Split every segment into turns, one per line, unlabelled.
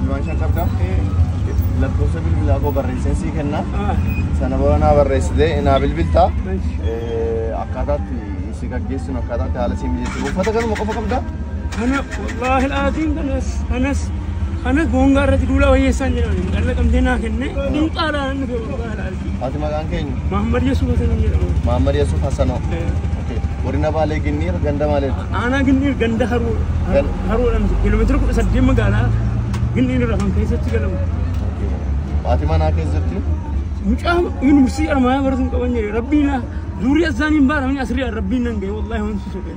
Ilmaan shan qabda.
Lakkoofsa bilbilaa koo barreesseen sii kenna. Sana booda naa barreessitee naa bilbilta. Akkaataatti si gaggeessinu akkaataatti haala si mijeessinu. Uffata kanuma qofa qabda. Kana
wallaahi laatiin kanas kanas kana goongaa irratti duulaa wayyeessaan jedhan dhalla qabdee naa kenne. Duuqaa laalan dhufe wallaahi laatiin. Ati maqaan keenya?
Mahammad Yusuf Hasan hin
jedhamu. Mahammad Yusuf Hasanoo.
Okay. Godina Baalee Ginniir ganda maaliiti? Aanaa Ginniir ganda
haroo Gan- haroo dhamsi kiiloomeetira kudha saddeet magaalaa Ginniir irraa kan keessatti galamu.
Ati manaa keessatti? Mucaa
yuunivarsiitii Armaayaa baratu hin qaban jedhe rabbiin zuuriyaa isaanii hin baaramne asirraa rabbiin nan ga'e wallaahi wanti soqee.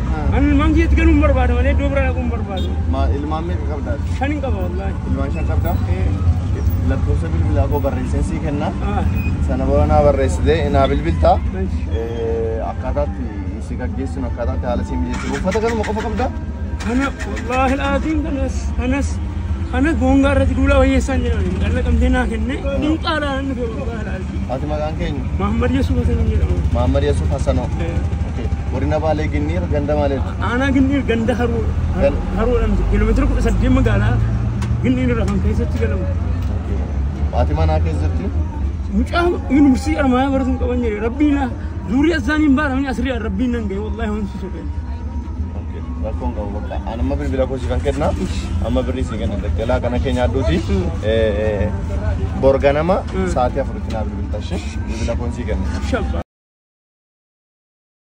Ah. An ilmaan kiyyatti galuun barbaada malee iddoo biraa dhaquun barbaadu. Ma ilmaan meeqa
qabdaa? Shan hin qaba wallaahi.
Ilmaan shan qabdaa? Eh,
Lakkoofsa bilbilaa koo barreesseen sii kenna. ah, Sana booda naa barreessitee naa bilbiltaa. nice. Eh, Akkaataatti si gaggeessinu akkaataatti haala si mijeessinu. Uffata kanuma qofa qabdaa? Kana
wallaahi laatiin kanas kanas kanas boongaa irratti duulaa wayyeessaan jedhani. Dhalla qabdee naa kenne. Dinqaa laalaan dhufe wallaahi laatiin. Ati maqaan keenya?
Mahammad Yasuuf Hasan hin
jedhamu. Mahammad Yasuuf Hasanoo.
Okay. Godina Baalee Ginniir ganda maaliiti? Aanaa Ginniir ganda
haroo Gan- haroodhaan kiiloomeetira kudha saddeet magaalaa Ginniir irraa kan keessatti galamu.
Ati manaa keessatti? Mucaa
yuunivarsiitii Armaayaa baratu hin qaban jedhe rabbiin zuurii isaanii hin baaramne asirraa rabbiin nan ga'e wallaahi waan si soqee.
Rakkoon qabu bakka. Ani amma bilbila koo siifan kenna. Amma birrii sii kenna daldalaa kana kee nyaadhuuti. Borga nama sa'aatii afuritti naa bilbilta ishee. Bilbila koon sii kenna.